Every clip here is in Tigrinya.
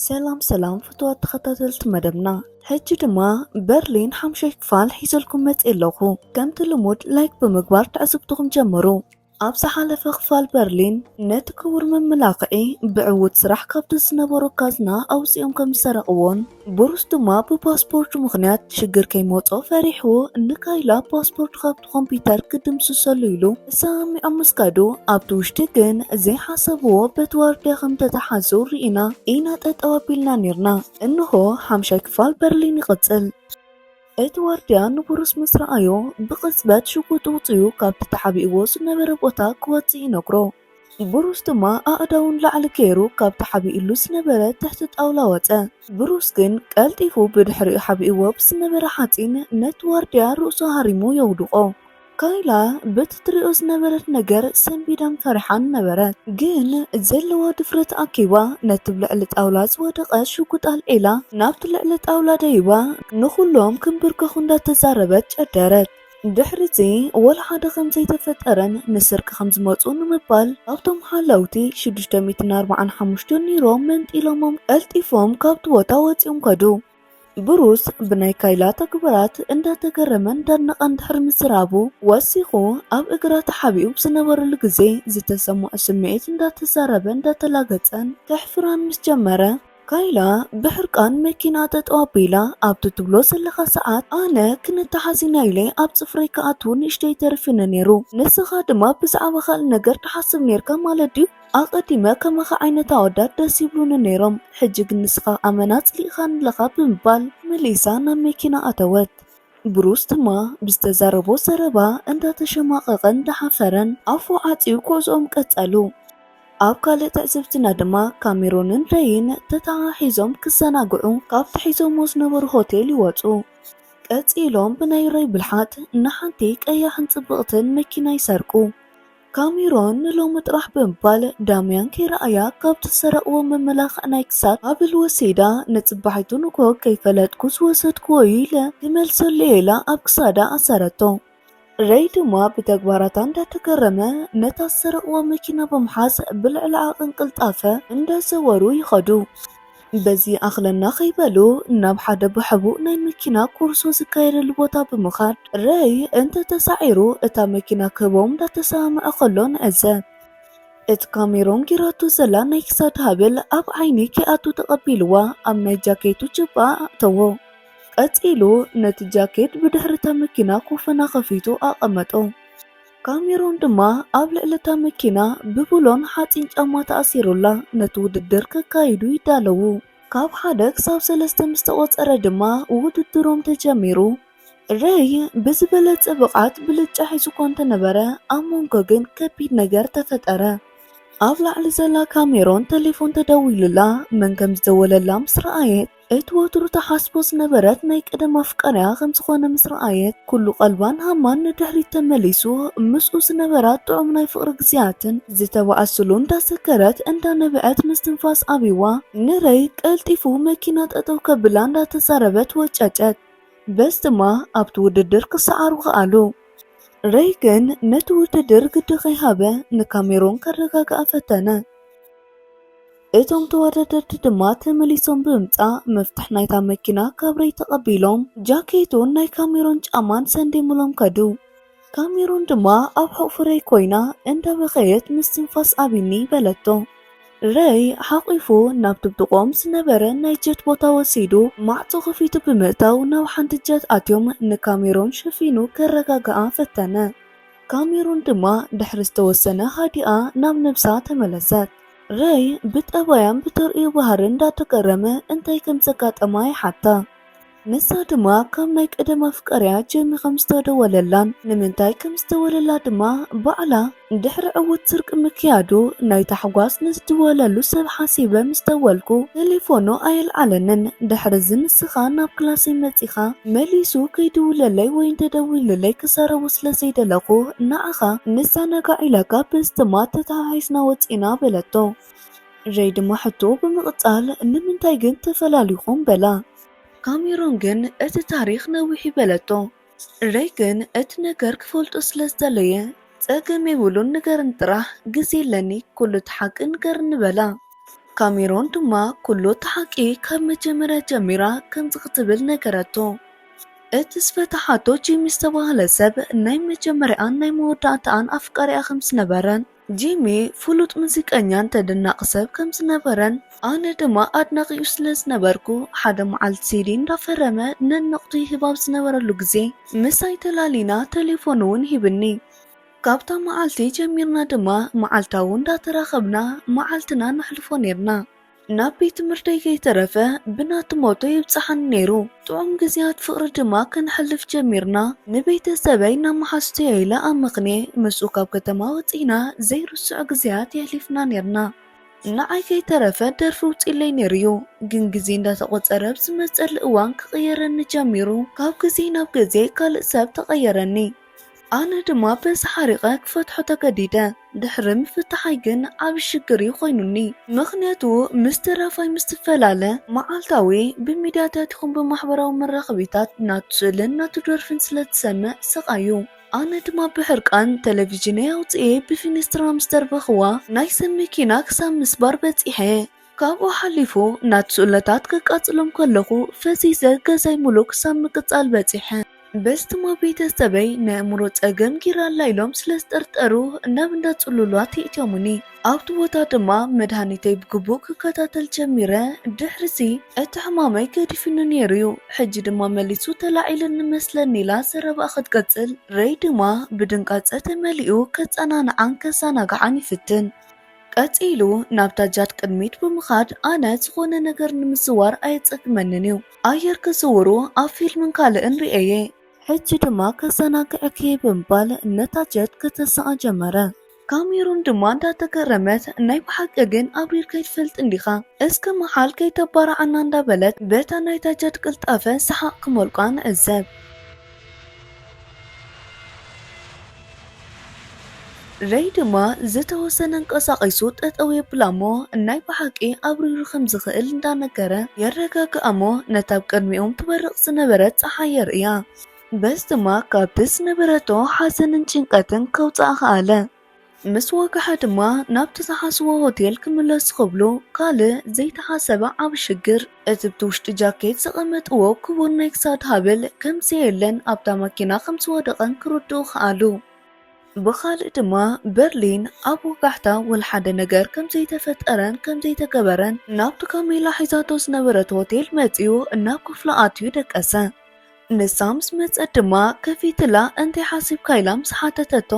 ሰላም ሰላም ፍትዋት ተኸታተልቲ መደብና ሕጂ ድማ በርሊን ሓምሻይ ክፋል ሒዘልኩም መፅ ኣለኹ ከምቲ ልሙድ ላይክ ብምግባር ትዕዝብትኹም ጀምሩ ኣብ ዝሓለፈ ክፋል በርሊን ነቲ ክቡር መመላኽዒ ብዕውት ስራሕ ካብቲ ዝነበሮ ካዝና ኣውፂኦም ከም ዝሰረቕዎን ብሩስ ድማ ብፓስፖርቱ ምኽንያት ሽግር ከይመጾ ፈሪሑ ንካይላ ፓስፖርቱ ካብቲ ኮምፒዩተር ክድምስሰሉ ኢሉ ሰሚዖም ምስካዱ ኣብቲ ውሽጢ ግን ዘይሓሰብዎ በቲ ዋርድያ ከም ተታሓዙ ርኢና ኢና ጠጠው ኣቢልና ኔርና። እንሆ ሓምሻይ ክፋል በርሊን ይቕጽል። እቲ ዋርድያ ንብሩስ ምስ ረኣዮ ብቕጽበት ሽጉጡ ውጺኡ ካብቲ ተሓቢእዎ ዝነበረ ቦታ ክወጽእ ይነግሮ። ብሩስ ድማ ኣእዳዉ ንላዕሊ ገይሩ ካብ ተሓቢኡሉ ዝነበረ ትሕቲ ጣውላ ወጸ። ብሩስ ግን ቀልጢፉ ብድሕሪኡ ሓቢኡዎ ብዝነበረ ሓጺን ነቲ ዋርድያ ርእሱ ሃሪሙ የውድቖ። ካይላ በቲ ትርእዮ ዝነበረት ነገር ሰንቢዳን ፈሪሓን ነበረት። ግን ዘለዋ ድፍረት ኣኪባ ነቲ ብ ልዕሊ ጣውላ ዝወደቐ ሽጉጥ ኣልዒላ ናብቲ ልዕሊ ጣውላ ደይባ ንኹሎም ክንብርከኹ እንዳተዛረበት ጨደረት። ድሕሪ'ዚ ወላ ሓደ ከም ዘይተፈጠረን ንስርቂ ከም ዝመጹ ንምባል ካብቶም ሓለውቲ ሽዱሽተ ሚእትን ኣርብዓን ሓሙሽተን ዩሮ መንጢሎሞም ቀልጢፎም ካብቲ ቦታ ወጺኦም ከዱ። ብሩስ ብናይ ካይላ ተግባራት እንዳተገረመን እንዳድነቐን ድሕሪ ምዝራቡ ወሲኹ ኣብ እግራ ተሓቢኡ ብ ዝነበረሉ ግዜ ዝተሰመዖ ስምዒት እንዳተዛረበን እንዳተላገጸን ከሕፍራን ምስ ጀመረ ካይላ ብሕርቃን መኪና ጠጠው ኣቢላ፣ ኣብቲ ትብሎ ዘለኻ ሰዓት ኣነ ክንተሓዝ ኢና ኢለ ኣብ ጽፍረይ ክኣቱ ንእሽተይ ተሪፉኒ ኔሩ። ንስኻ ድማ ብዛዕባ ካልእ ነገር ትሓስብ ኔርካ ማለት ድዩ? ኣቐዲመ ከማኻ ዓይነት ኣወዳት ደስ ይብሉኒ ኔሮም፣ ሕጂ ግን ንስኻ ኣመና ጽሊእኻኒ ኣለኻ ብምባል መሊሳ ናብ መኪና ኣተወት። ብሩስ ድማ ብዝተዛረቦ ዘረባ እንዳተሸማቐቐን እንዳሓፈረን ኣፉ ዓጽዩ ጉዕዝኦም ቀጸሉ። ኣብ ካልእ ትዕዝብትና ድማ ካሜሮንን ረይን ተተሓሒዞም ክዘናግዑ ካብቲ ሒዞሞ ዝነበሩ ሆቴል ይወጹ። ቀጺሎም ብናይ ረይ ብልሓት ንሓንቲ ቀያሕን ጽብቕትን መኪና ይሰርቁ። ካሜሮን ንሎሚ ጥራሕ ብምባል ዳምያን ከይረኣያ ካብ ትሰረቕዎ መመላኽዒ ናይ ክሳድ ሃብል ወሲዳ ንጽባሒቱ ንግሆ ከይፈለጥኩ ዝወሰድክዎ እዩ ኢለ ክመልሰሉ እየ ኢላ ኣብ ክሳዳ ኣሰረቶ። ረይ ድማ ብተግባራታ እንዳተገረመ ነታ ዝሰረቕዋ መኪና ብምሓዝ ብልዕሊ ዓቕን ቅልጣፈ እንዳዘወሩ ይኸዱ። በዚ ይኣኽለና ከይበሉ ናብ ሓደ ብሕቡእ ናይ መኪና ኮርሶ ዝካየደሉ ቦታ ብምኻድ ረይ እንተ ተሳዒሩ እታ መኪና ክህቦም እንዳተሰማምዐ ከሎ ንዕዘብ። እቲ ካሜሮን ጌራቶ ዘላ ናይ ክሳድ ሃብል ኣብ ዓይኒ ከይኣቱ ተቐቢልዋ ኣብ ናይ ጃኬቱ ጁባ ኣእተዎ። ቀጺሉ ነቲ ጃኬት ብድሕሪ እታ መኪና ኮፈና ከፊቱ ኣቐመጦ። ካሜሮን ድማ ኣብ ልዕሊ እታ መኪና ብብሎን ሓፂን ጫማ ተኣሲሩላ ነቲ ውድድር ከካይዱ ይዳለዉ። ካብ ሓደ ክሳብ ሰለስተ ምስ ተቖፀረ ድማ ውድድሮም ተጀሚሩ። ረይ ብዝበለፀ ብቕዓት ብልጫ ሒዙ እኳ እንተነበረ ኣብ ሞንጎ ግን ከቢድ ነገር ተፈጠረ። ኣብ ላዕሊ ዘላ ካሜሮን ተሌፎን ተደዊሉላ መን ከም ዝደወለላ ምስ ረኣየት፣ እቲ ወትሩ ትሓስቦ ዝነበረት ናይ ቀደም ኣፍቃሪኣ ከም ዝኾነ ምስ ረኣየት፣ ኩሉ ቀልባን ሃማን ንድሕሪት ተመሊሱ፣ ምስኡ ዝነበራ ጥዑም ናይ ፍቕሪ ግዜያትን ዝተባእስሉ እንዳዘከረት እንዳ ነበዐት ምስትንፋስ ኣብዩዋ፣ ንረይ ቀልጢፉ መኪና ጠጠው ከብላ እንዳተዛረበት ወጨጨት። በዚ ድማ ኣብቲ ውድድር ክሰዓሩ ከኣሉ። ረይ ግን ነቲ ውድድር ግዲ ከይሃበ ንካሜሮን ከረጋግኣ ፈተነ። እቶም ተወዳደርቲ ድማ ተመሊሶም ብምምጻእ መፍትሕ ናይታ መኪና ካብ ረይ ተቐቢሎም ጃኬቱን ናይ ካሜሮን ጫማን ሰንዴሙሎም ከዱ። ካሜሮን ድማ ኣብ ሕቑፉ ረይ ኮይና እንዳበኸየት ምስትንፋስ ኣቢኒ በለቶ። ረይ ሓቒፉ ናብ ድብድቖም ዝነበረ ናይ ጀት ቦታ ወሲዱ ማዕጾ ከፊቱ ብምእታው ናብ ሓንቲ ጀት ኣትዮም ንካሜሮን ሸፊኑ ከረጋግኣ ፈተነ። ካሜሮን ድማ ድሕሪ ዝተወሰነ ሃዲኣ ናብ ነብሳ ተመለሰት። ረይ ብጠባያን ብተርእዮ ባህርን እንዳተገረመ እንታይ ከም ዘጋጠማ ይሓታ። ንሳ ድማ ካብ ናይ ቀደም ኣፍቃሪኣ ጀሚ ከም ዝተደወለላን ንምንታይ ከም ዝተወለላ ድማ ባዕላ ድሕሪ ዕዉት ስርቂ ምክያዱ ናይ ታሕጓስ ንዝድወለሉ ሰብ ሓሲበ ምስ ደወልኩ ተሌፎኑ ኣየልዓለንን ድሕሪዚ ንስኻ ናብ ክላሰይ መጺኻ መሊሱ ከይድውለለይ ወይ እንተደዊሉለይ ክዛረቦ ስለ ዘይደለኹ ንዓ ከኣ ንዘናጋዕ ኢላ ካብ ስትማ ተተሓሒዝና ወጺእና በለቶ። ረይ ድማ ሕቶ ብምቕጻል ንምንታይ ግን ተፈላሊኹም በላ። ካሜሮን ግን እቲ ታሪኽ ነዊሕ'ዩ በለቶ። ረይ ግን እቲ ነገር ክፈልጦ ስለ ዝደለየ ጸገም የብሉን ንገርኒ ጥራሕ ግዜ ኣለኒ ኩሉ እቲ ሓቂ ንገርኒ በላ። ካሜሮን ድማ ኩሉ እቲ ሓቂ ካብ መጀመርያ ጀሚራ ከምዚ ክትብል ነገረቶ። እቲ ዝፈታሓቶ ጂሚ ዝተባህለ ሰብ ናይ መጀመርያኣን ናይ መወዳእታኣን ኣፍቃሪኣ ከም ዝነበረን፣ ጂሚ ፍሉጥ ሙዚቀኛን ተደናቒ ሰብ ከም ዝነበረን፣ ኣነ ድማ ኣድናቒኡ ስለ ዝነበርኩ፣ ሓደ መዓልቲ ሲዲ እንዳፈረመ ነንወቕቱ ይህብ ኣብ ዝነበረሉ ግዜ ምሳይ ተላሊና ተሌፎኑ ውን ሂብኒ። ካብታ መዓልቲ ጀሚርና ድማ መዓልታዊ እንዳተራኸብና መዓልትና ነሕልፎ ኔርና። ናብ ቤት ትምህርተይ ከይተረፈ ብናቱ ሞቶ የብጽሓኒ ነይሩ። ጥዑም ግዜያት ፍቕሪ ድማ ከነሕልፍ ጀሚርና። ንቤተሰበይ ናብ መሓዙተይ'የ ኢለ ኣመኽንየ ምስኡ ካብ ከተማ ወጺእና ዘይርሱዕ ግዜያት የሕሊፍና ኔርና። ንዓይ ከይተረፈ ደርፊ ኣውጺኡለይ ነይሩ'ዩ፣ ግን ግዜ እንዳተቖጸረ ኣብ ዝመጸሉ እዋን ክቕየረኒ ጀሚሩ። ካብ ግዜ ናብ ግዜ ካልእ ሰብ ተቐየረኒ። ኣነ ድማ በዚ ሓሪቐ ክፈትሖ ተገዲደ። ድሕሪ ምፍታሓይ ግን ዓቢ ሽግር እዩ ኮይኑኒ። ምኽንያቱ ምስ ደራፋይ ምስ ትፈላለ መዓልታዊ ብሚድያታት ይኹን ብማሕበራዊ መራኸቢታት ናቱ ስእልን ናቱ ደርፍን ስለ ትሰምዕ ስቓይ እዩ። ኣነ ድማ ብሕርቃን ተለቪዥነይ ኣውጺኤ ብፊኒስትራ ምስ ደርበኽዋ ናይ ሰብ መኪና ክሳብ ምስባር በጺሐ። ካብኡ ሓሊፉ ናት ስእለታት ክቃጽሎም ከለኹ ፈሲሰ ገዛይ ሙሉእ ክሳብ ምቅጻል በጺሐ። በስትማ ቤተሰበይ ናይ ኣእምሮ ጸገም ጊራ ኣላ ኢሎም ስለ ዝጠርጠሩ ናብ እንዳ ጽሉላት የእትዮሙኒ። ኣብቲ ቦታ ድማ መድሃኒተይ ብግቡእ ክከታተል ጀሚረ። ድሕሪ'ዚ እቲ ሕማመይ ገዲፉኒ ኔሩ'ዩ። ሕጂ ድማ መሊሱ ተላዒሉኒ መስለኒ ኢላ ዘረባኣ ክትቅጽል፣ ረይ ድማ ብድንጋጸ ተመሊኡ ከጸናንዓን ከዛናግዓን ይፍትን። ቀጺሉ ናብታ ጃድ ቅድሚት ብምኻድ ኣነ ዝኾነ ነገር ንምዝዋር ኣየጸግመንን እዩ ኣየር ክዝውሩ ኣብ ፊልምን ካልእን ሪኤየ። ሕጂ ድማ ከዘናግዐኪ እየ ብምባል ነታ ጀት ከተስኣ ጀመረ። ካሜሩን ድማ እንዳተገረመት ናይ ብሓቂ ግን ኣብሪርካ ኣይትፈልጥን ዲኻ እስከ ምሓል ከይተባርዓና እንዳበለት በታ ናይታ ጃድ ቅልጣፈ ሰሓቕ ክመልቋ ንዕዘብ። ረይ ድማ ዝተወሰነ ኣንቀሳቒሱ ጠጠው የብላ'ሞ ናይ ብሓቂ ኣብሪሩ ከም ዝኽእል እንዳነገረ የረጋግኣ'ሞ ነታ ኣብ ቅድሚኦም ትበርቕ ዝነበረት ጸሓይ የርእያ። በዚ ድማ ካብቲ ዝነበረቶ ሓዘንን ጭንቀትን ከውጽኣ ከኣለ። ምስ ወግሓ ድማ ናብቲ ዝሓስዎ ሆቴል ክምለሱ ክብሉ ካልእ ዘይተሓሰበ ዓቢ ሽግር እትብቲ ውሽጢ ጃኬት ዘቐመጥዎ ክቡር ናይ ክሳድ ሃብል ከም ዘየለን ኣብታ መኪና ከም ዝወደቐን ክርድኡ ከኣሉ። ብኻልእ ድማ በርሊን ኣብ ወጋሕታ ወልሓደ ነገር ከም ዘይተፈጠረን ከም ዘይተገበረን ናብቲ ካሜላ ሒዛቶ ዝነበረት ሆቴል መጺኡ ናብ ክፍሉ ኣትዩ ደቀሰ። ንሳ ምስ መጸት ድማ ከፊትላ እንታይ ሓሲብካ ኢላ ምስ ሓተተቶ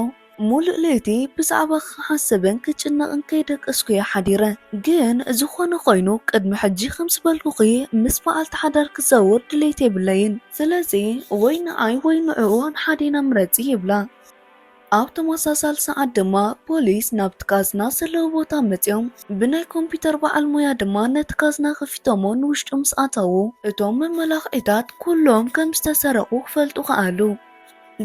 ሙሉእ ለይቲ ብዛዕባኺ ክሓስብን ክጭነቕን ከይደቀስኩ እየ ሓዲረ ግን ዝኾነ ኾይኑ ቅድሚ ሕጂ ከም ዝበልኩኺ ምስ በዓልቲ ሓዳር ክዛወር ድሌት የብለይን ስለዚ ወይ ንዓይ ወይ ንዕኡ ሓደ ኢና ምረጺ ይብላ። ኣብ ተመሳሳሊ ሰዓት ድማ ፖሊስ ናብቲ ካዝና ዘለዎ ቦታ መጺኦም ብናይ ኮምፒዩተር በዓል ሞያ ድማ ነቲ ካዝና ከፊቶሞ ንውሽጡ ምስ ኣተዉ እቶም መመላኽዒታት ኩሎም ከም ዝተሰረቑ ክፈልጡ ከኣሉ።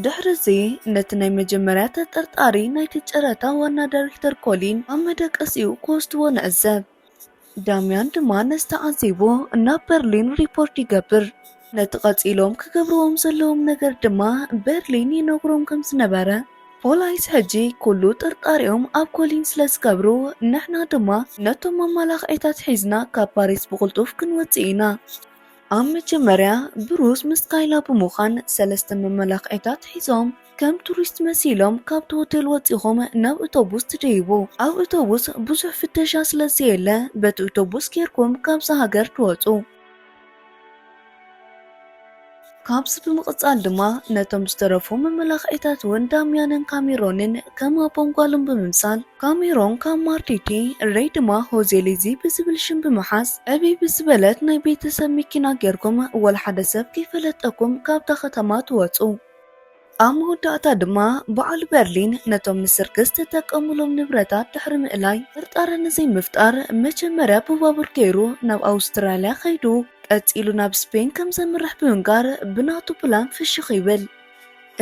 ድሕሪ እዚ ነቲ ናይ መጀመርያ ተጠርጣሪ ናይቲ ጨረታ ዋና ዳይሬክተር ኮሊን ኣብ መደቀሲኡ ክወስድዎ ንዕዘብ። ዳምያን ድማ ነዚ ተዓዚቡ ናብ በርሊን ሪፖርት ይገብር። ነቲ ቀጺሎም ክገብርዎም ዘለዎም ነገር ድማ በርሊን ይነግሮም ከም ዝነበረ። ፖላይስ ሕጂ ኩሉ ጥርጣሬኦም ኣብ ኮሊን ስለ ዝገብሩ፣ ንሕና ድማ ነቶም መማላኽዒታት ሒዝና ካብ ፓሪስ ብቕልጡፍ ክንወጽእ ኢና። ኣብ መጀመርያ ብሩስ ምስ ካይላ ብምዃን ሰለስተ መመላኽዒታት ሒዞም ከም ቱሪስት መሲሎም ካብቲ ሆቴል ወጺኹም ናብ እቶቡስ ትድይቡ። ኣብ እቶቡስ ብዙሕ ፍተሻ ስለ ዘየለ በቲ እቶቡስ ጌርኩም ካብዛ ሃገር ትወጹ። ካብዚ ብምቕጻል ድማ ነቶም ዝተረፉ መመላኽዒታት'ውን ዳምያንን ካሜሮንን ከም ኣቦን ጓሉን ብምምሳል ካሜሮን ካብ ማርቲቲ፣ ረይ ድማ ሆዜሊዚ ብዝብል ሽም ብምሓዝ ዕብይ ብዝበለት ናይ ቤተሰብ መኪና ጌርኩም ወላ ሓደ ሰብ ከይፈለጠኩም ካብታ ከተማ ትወጹ። ኣብ መወዳእታ ድማ በዓል በርሊን ነቶም ንስርቂ ዝተጠቀሙሎም ንብረታት ድሕሪ ምእላይ ጥርጣረ ንዘይምፍጣር መጀመርያ ብባቡር ገይሩ ናብ ኣውስትራልያ ከይዱ ቀጺሉ ናብ ስፔን ከም ዘምርሕ ብምንጋር ብናቱ ፕላን ፍሽኽ ይብል።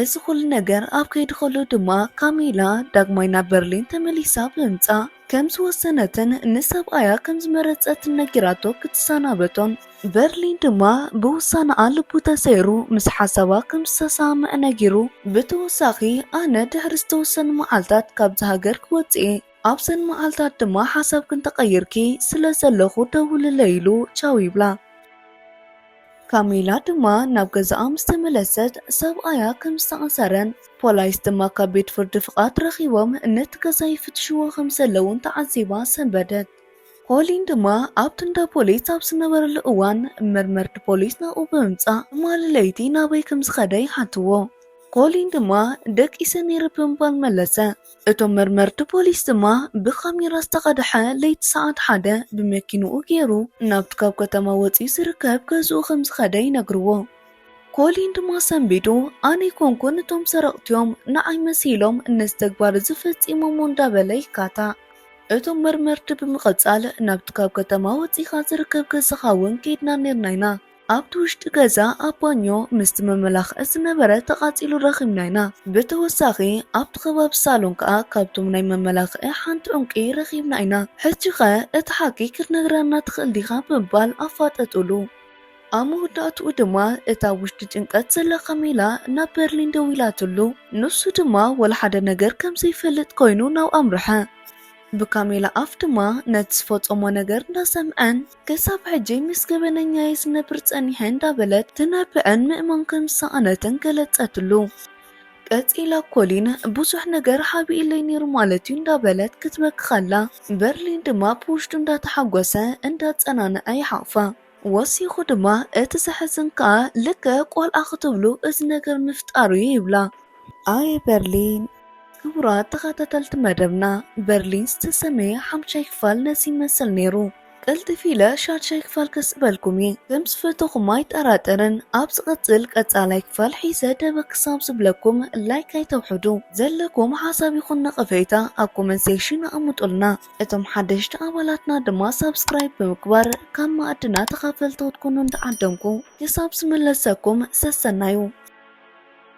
እዚ ኩሉ ነገር ኣብ ከይዲ ከሎ ድማ ካሚላ ዳግማይ ናብ በርሊን ተመሊሳ ብምምጻእ ከም ዝወሰነትን ንሰብኣያ ከም ዝመረጸትን ነጊራቶ ክትሰናበቶን በርሊን ድማ ብውሳነኣ ልቡ ተሰይሩ ምስ ሓሳባ ከም ዝተሰማምዐ ነጊሩ ብተወሳኺ ኣነ ድሕሪ ዝተወሰኑ መዓልታት ካብዚ ሃገር ክወጽእ እየ ኣብዘን መዓልታት ድማ ሓሳብክን ተቐይርኪ ስለ ዘለኹ ደውልለይ ኢሉ ቻው ይብላ። ካሚላ ድማ ናብ ገዛኣ ምስ ተመለሰት ሰብኣያ ከም ዝተኣሰረን ፖላይስ ድማ ካብ ቤት ፍርዲ ፍቓድ ረኺቦም ነቲ ገዛ ይፍትሽዎ ከም ዘለዉን ተዓዚባ ሰንበደት። ኮሊን ድማ ኣብቲ እንዳ ፖሊስ ኣብ ዝነበረሉ እዋን መርመርቲ ፖሊስ ናብኡ ብምምጻእ ትማሊ ለይቲ ናበይ ከም ዝኸደ ይሓትዎ። ኮሊን ድማ ደቂሰ ነይረ ብምባል መለሰ። እቶም መርመርቲ ፖሊስ ድማ ብካሜራ ዝተቐድሐ ለይቲ ሰዓት ሓደ ብመኪንኡ ገይሩ ናብቲ ካብ ከተማ ወፂኡ ዝርከብ ገዝኡ ከም ዝኸደ ይነግርዎ። ኮሊን ድማ ሰንቢዱ ኣነ ኣይኮንኩን እቶም ሰረቕቲዮም ንዓይ መሲሎም ነዚ ተግባር እዚ ፈፂሞሞ እንዳበለ ይካታዕ። እቶም መርመርቲ ብምቕፃል ናብቲ ካብ ከተማ ወፂእኻ ዝርከብ ገዛኻ እውን ከይድና ነይርና ኢና። ኣብቲ ውሽጢ ገዛ ኣብ ባኞ ምስቲ መመላኽዒ ዝነበረ ተቓፂሉ ረኺብና ኢና። ብተወሳኺ ኣብቲ ከባቢ ሳሎን ከዓ ካብቶም ናይ መመላኽዒ ሓንቲ ዑንቂ ረኺብና ኢና። ሕጂ ኸ እቲ ሓቂ ክትነግረና ትኽእል ዲኻ? ብምባል ኣፋጠጡሉ። ኣብ መወዳእትኡ ድማ እታ ኣብ ውሽጢ ጭንቀት ዘላ ካሜላ ናብ በርሊን ደዊላትሉ። ንሱ ድማ ወላ ሓደ ነገር ከም ዘይፈልጥ ኮይኑ ናብኣ ኣምርሐ። ብካሜላ ኣፍ ድማ ነቲ ዝፈፀሞ ነገር እንዳሰምዐን ክሳብ ሕጂ ምስ ገበነኛየይ ዝነብር ጸኒሐ እንዳበለት ትነብዕን ምእማን ከም ዝሰኣነትን ገለጸትሉ። ቀጺላ ኮሊን ብዙሕ ነገር ሓቢኡለይ ነይሩ ማለት እዩ እንዳበለት ክትበኪ ከላ በርሊን ድማ ብውሽጡ እንዳተሓጎሰ እንዳጸናንዐ ይሓቑፋ። ወሲኹ ድማ እቲ ዘሕዝን ከኣ ልክዕ ቆልዓ ክትብሉ እዚ ነገር ምፍጣሩ እዩ ይብላ። ኣየ በርሊን! ክቡራት ተኸታተልቲ መደብና በርሊን ዝተሰምየ ሓምሻይ ክፋል ነዚ ይመስል ነይሩ። ቀልጥፍ ኢለ ሻድሻይ ክፋል ከስዕበልኩም እየ ከም ዝፈተኹም ኣይጠራጠርን ኣብ ዝቕጽል ቀጻላይ ክፋል ሒዘ ደበ ክሳብ ዝብለኩም ላይክ ኣይተውሕዱ ዘለኩም ሓሳብ ይኹን ነቐፌታ ኣብ ኮመንት ሴክሽን ኣቐምጡልና እቶም ሓደሽቲ ኣባላትና ድማ ሳብስክራይብ ብምግባር ካብ መኣድና ተኻፈልቲ ክትኮኑ እንዳዓደምኩ ክሳብ ዝምለሰኩም ሰሰናዩ